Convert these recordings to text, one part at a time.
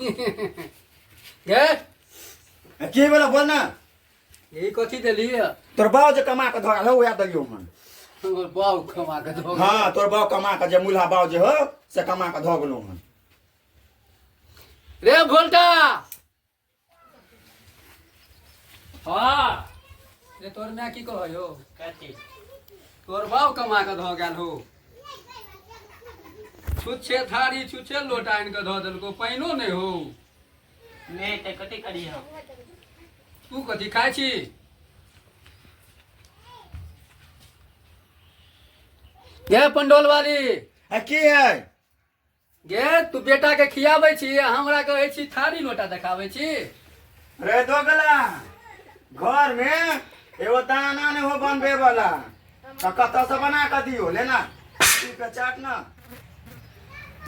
गे के बेला बोल ना यही कथी देली है तोर बाव जे कमा के धरा हो वएह दलियो मन हमर बाऊ कमा के दो हाँ तोर बाव कमा के जे मुल्हा बाव जे हो से कमा के धऽ गेलो मन रे भोल्टा हाँ रे तोर माय की कहै हो कथी तोर बाप कमा के धऽ गेल हो छुच्छे थारी छुच्छे लोटा आनि के धऽ देलको पानिओ नहि हो नहि तऽ कथी करी हम तू कथी खाइ छी ये पंडोल वाली आ की है गे तू बेटा के खियाबै छी आ हमरा कहै छी थारी लोटा देखाबै छी रे दोगला घर में एगो दाना ने हो बनबे वाला तो कत से बना के दियो लेना ई पे चाट ना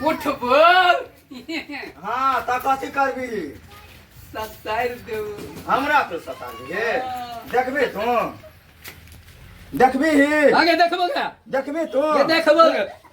उठ बोल हाँ तो कथी करबी सत्ताइर देऊ हमरा पे सता दिए देखबी तू देखबी ही आगे देखबो गे देखबी तू ये देखबो गे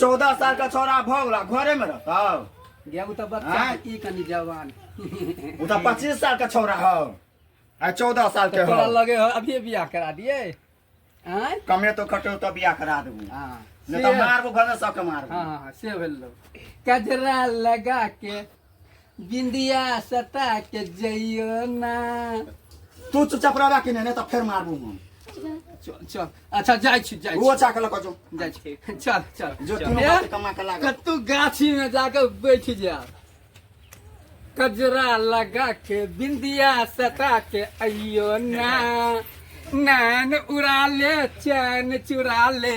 चौदह साल का छोरा भऽ गेला घरे में रहता गया उ त बच्चा आँय? की कनी जवान उ तऽ पच्चीस साल का छोरा हौ आ चौदह साल के तोरा हौ लगे हो अभी बियाह करा दिए आँय कमे तो खटो तो बियाह करा देबू हाँ नहि से- तऽ मारबू घरे सबके मारबू हाँ हाँ से भेल लो कजरा लगा के बिंदिया सता के जइयो ना तू चुपचाप रहबा कि नहीं नहीं तो फिर मारबू हम चल चल अच्छा जाइ छी जाइ वो छी चाक लक जो जाइ छी चल चल जो चल। तीनों ए, बात कमा के लाग कतू गाछी में जाके बैठ जा कजरा लगा के बिंदिया सता के अइयो ना नैन उड़ा ले चैन चुरा ले